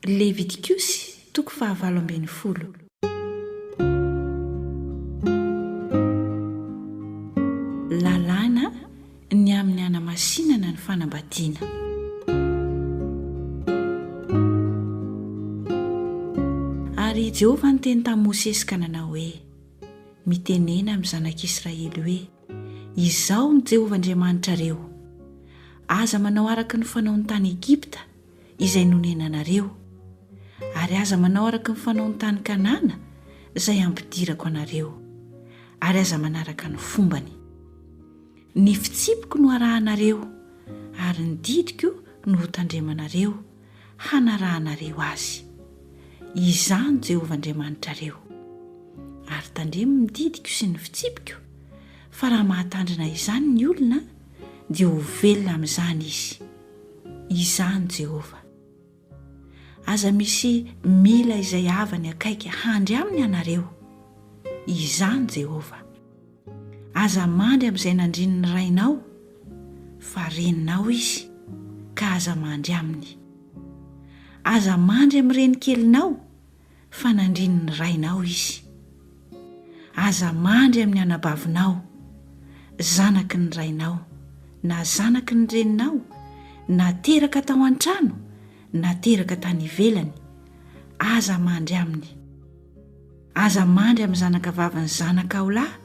Levitikosy, toko fahavalo ambin'ny folo. Lalàna ny amin'ny hanamasinana ny fanambadiana. Ary i Jehovah niteny tamin'i Mosesy ka nanao hoe, Mitenena amin'ny zanak'Israely hoe, Izaho no Jehovah Andriamanitrareo. Aza manao araka ny fanaon'ny tany Egypta, izay nonenanareo, ary aza manao araka ny fanaon'ny tany Kanana izay hampidirako anareo, ary aza manaraka ny fombany. Ny fitsipiko no arahanareo, ary ny didiko no hotandremanareo, hanarahanareo azy. Izaho no Jehovah Andriamanitrareo. Ary tandremo ny didiko sy ny fitsipiko, fa raha mahatandrina izany ny olona, dia ho velona amin'izany izy. izany Jehovah. Aza misy mila izay havany akaiky handry aminy ianareo, izany Jehovah. Aza mandry amin'izay nandrin'ny rainao, fa reninao izy, ka aza mandry aminy. Aza mandry amin'ny renikelinao, fa nandrin' ny rainao izy. Aza mandry amin' ny anabavinao, zanaky ny rainao, na zanaky ny reninao, na teraka tao an-trano, na teraka tany ivelany, aza mandry aminy. Aza mandry amin' ny zanakavavin' ny zanakao lahy,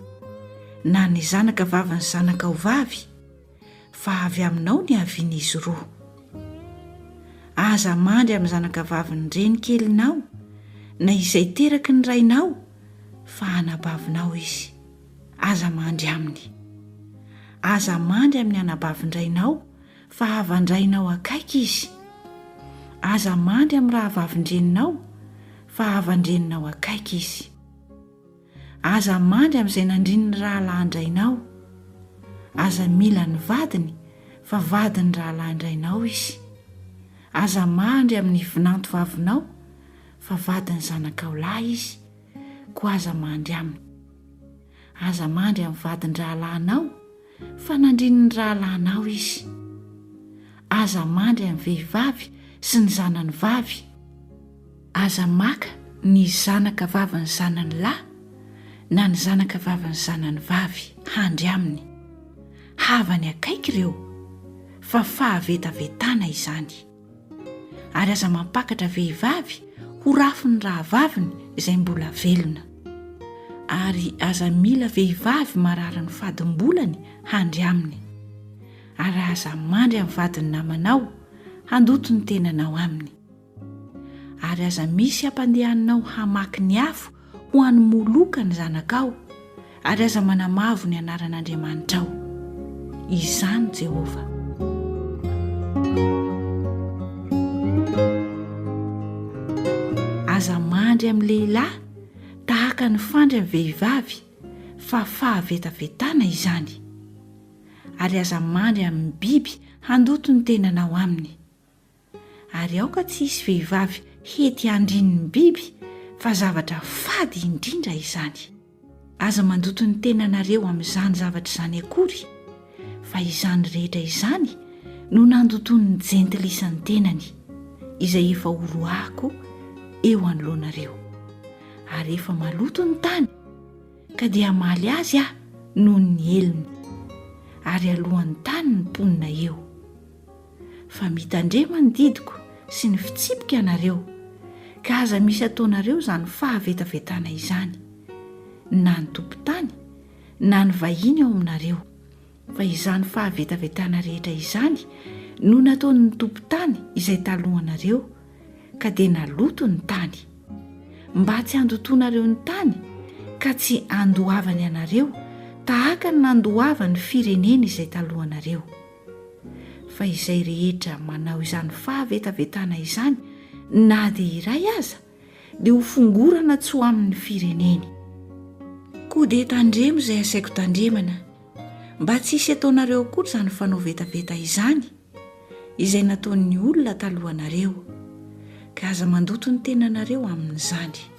na ny zanakavavin' ny zanakao vavy, fa avy aminao ny havian'izy roa. Aza mandry amin'ny zanakavavin'ny renikelinao na izay teraky ny rainao fa anabavinao izy. Aza mandry aminy. Aza mandry amin'ny anabavin-drainao fa havan-drainao akaiky izy. Aza mandry amin'ny rahavavin-dreninao fa havan-dreninao akaiky izy. Aza mandry amin'izay nandrin'ny rahalahin-drainao. Aza mila ny vadiny fa vadin'ny rahalahin-drainao izy. Aza mandry amin'ny vinantovavinao fa vadin'ny zanakao lahy izy, koa aza mandry aminy. Aza mandry amin'ny vadin-drahalahinao. Fanandrin'ny rahalahinao izy. Aza mandry an'ny vehivavy sy ny zanany vavy. Aza maka ny zanaka vavin'ny zanany lahy na ny zanaka vavin'ny zanany vavy handry aminy. Havany akaiky ireo, fa fahavetavetana izany. ary aza mampakatra vehivavy ho rafiny rahavaviny izay mbola velona ary aza mila vehivavy marary ny fadim-bolany handry aminy ary aza mandry amin'ny vadiny namanao handoto ny tenanao aminy ary aza misy hampandehaninao hamaky ny afo ho an'i Moloka ny zanakao, ary aza manamavo ny anaran'Andriamanitrao. Izaho no Jehovah. Aza mandry amin'ny lehilahy tahaka ny fandry amin'ny vehivavy, fa fahavetavetana izany. Ary aza mandry amin'ny biby handoto ny tenanao aminy. ary aoka tsy hisy vehivavy hety handrin' ny biby, fa zavatra fady indrindra izany. Aza mandoto ny tenanareo amin' izany zavatra izany akory, fa izany rehetra izany no nandotoan' ny Jentilisa ny tenany, izay efa horoahako eo anoloanareo. Ary efa maloto ny tany, ka dia hamaly azy Aho noho ny helony, ary haloan' ny tany ny mponina eo. fa mitandrema ny didiko sy ny fitsipiko ianareo, ka aza misy ataonareo izany fahavetavetana izany, na ny tompon-tany na ny vahiny ao aminareo, fa izany fahavetavetana rehetra izany no nataon'ny tompon-tany izay talohanareo, ka dia naloto ny tany. Mba tsy handotoanareo ny tany, ka tsy handoavany anareo tahaka ny nandoavany firenena izay talohanareo. Fa izay rehetra manao izany fahavetavetana izany na dia iray aza dia ho fongorana tsy ho amin'ny fireneny. Koa dia tandremo izay asaiko tandremana mba tsy hisy ataonareo akory izany fanao vetaveta izany izay nataon'ny olona talohanareo, ka aza mandoto ny tenanareo amin'izany.